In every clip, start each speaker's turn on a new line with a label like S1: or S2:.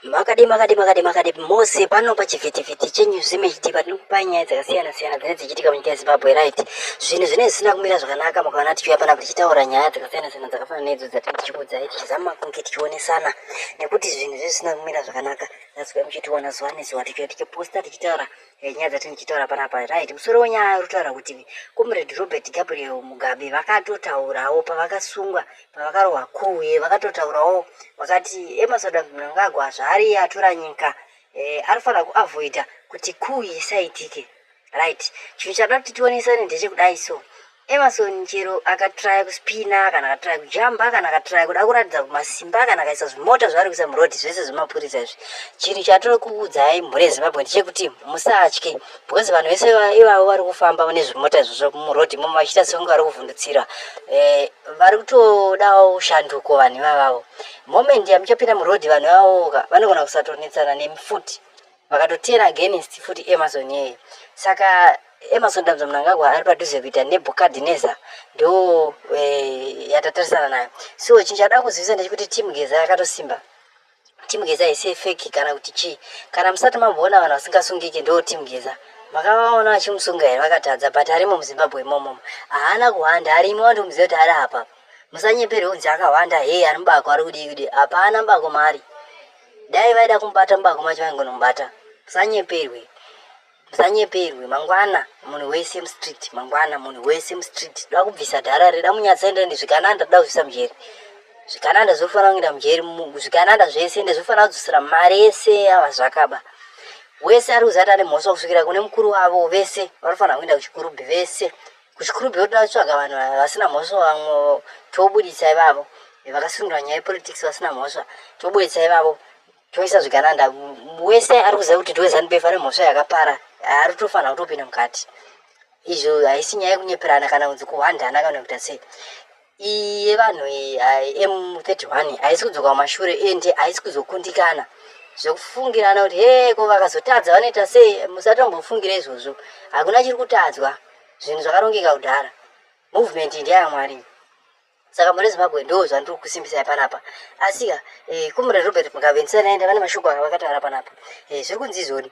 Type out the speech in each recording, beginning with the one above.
S1: Makadii makadii makadii makadii mose pano pachivhitivhiti chenews image tv tinokupai nyaya dzakasiyana siyana dzinenge dzichiitika munyika yezimbabwe right zvinhu zvinenge zvisina kumira zvakanaka mukaona tichiuya pana tichitaura nyaya dzakasiyana siyana dzakafanana neidzo dzatinenge tichikuudzai tichizama kunge tichionesana nekuti zvinhu zvezvisina kumira zvakanaka that's why muchitiona zuva nezuva tichiuya tichiposta tichitaura Eh, nyaya dzati ndichitaura panapa right musoro wenyaya uri kutaura kuti comrade robert gabriel mugabe vakatotaurawo pavakasungwa pavakarohwa kuwe vakatotaurawo vakati emerson eh, mnangagwa zvaari iye atora nyika eh, anofanira kuavoida kuti kuu isaitike right chinhu chada kuti tionesane ndechekudai so Emerson chero akatraya kuspina kana akatraya kujamba kana akatraya kuda kuratidza kumasimba kana akaisa zvimota zvaari kuisa murodhi zvese zvemapurisa izvi chinhu chatiri kuudzai mhuri yezimbabwe ndechekuti musatye because vanhu vese ivavo vari kufamba mune zvimota izvozvo murodhi imomo vachiita sekunge vari kuvhundutsira eh, vari kutodawo shanduko vanhu ivavavo moment yamuchapinda murodhi vanhu ivavoka vanogona kusatonetsana nemi futi vakatoteera against futi amazon yeye saka amazon dambudzo mnangagwa ari padhuze kuita nebukadineza ndo eh, yatatarisana nayo so chinhu chakuda kuzivisa ndechekuti team geza yakatosimba team geza haisi fake kana kuti chii kana musati mamboona vanhu vasingasungiki ndo team geza makavaona vachimusunga here vakatadza but arimo muzimbabwe imomomo haana kuhwanda arimo wandomuziva kuti ari apa musanyeperwe kunzi akahwanda hei ari mubako ari kudii kudii hapana mbako maari dai vaida kumubata mubako macho vaingonomubata musanyeperwe musanyeperwe mangwana munhu wese mustreet mangwana munhu wese mustreet da kubvisa dhara reda munyatsaenda ndi zvikananda da kubvisa mujeri zvikananda zvofanira kuenda mujeri zvikananda zvese ende zvofanira kudzosera mari yese yava zvakaba wese ari kuzati ane mhosva kusvikira kune mukuru wavo vese vanofanira kuenda kuchikurubhi vese kuchikuru beuda vatsvaga vanhu vasina mhosva vamwe tobuditsa ivavo vakasundura nyaya yepolitics vasina mhosva tobuditsa ivavo toisa zvigananda wese ari kuziva kuti tiwezanb fane mhosva yakapara ari tofanira kutopinda mukati izvo haisi nyaya yekunyeperana kana kunzi kuhwandana kana kuita sei iyi yevanhu iyi m31 haisi kudzoka kumashure and haisi kuzokundikana zvekufungirana kuti he ko vakazotadza vanoita sei musatombofungira izvozvo hakuna chiri kutadzwa zvinhu zvakarongeka kudhara movement ndiyaya mwari saka mune zimbabwe ndo zvandiri kusimbisai panapa asika eh, kumure robert mukavendisana enda vane mashoko aka vakataura panapa eh, zviri kunzi izvoni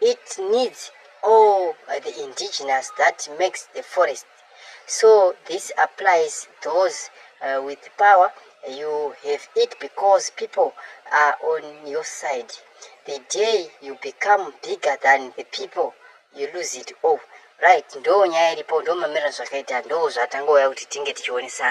S1: It needs all the indigenous that makes the forest. So this applies those uh, with power. You have it because people are on your side. The day you become bigger than the people, you lose it all. Right, ndo nyaya iripo, ndo mamiriro zvakaita, ndo zvatangouya kuti tinge tichionesana.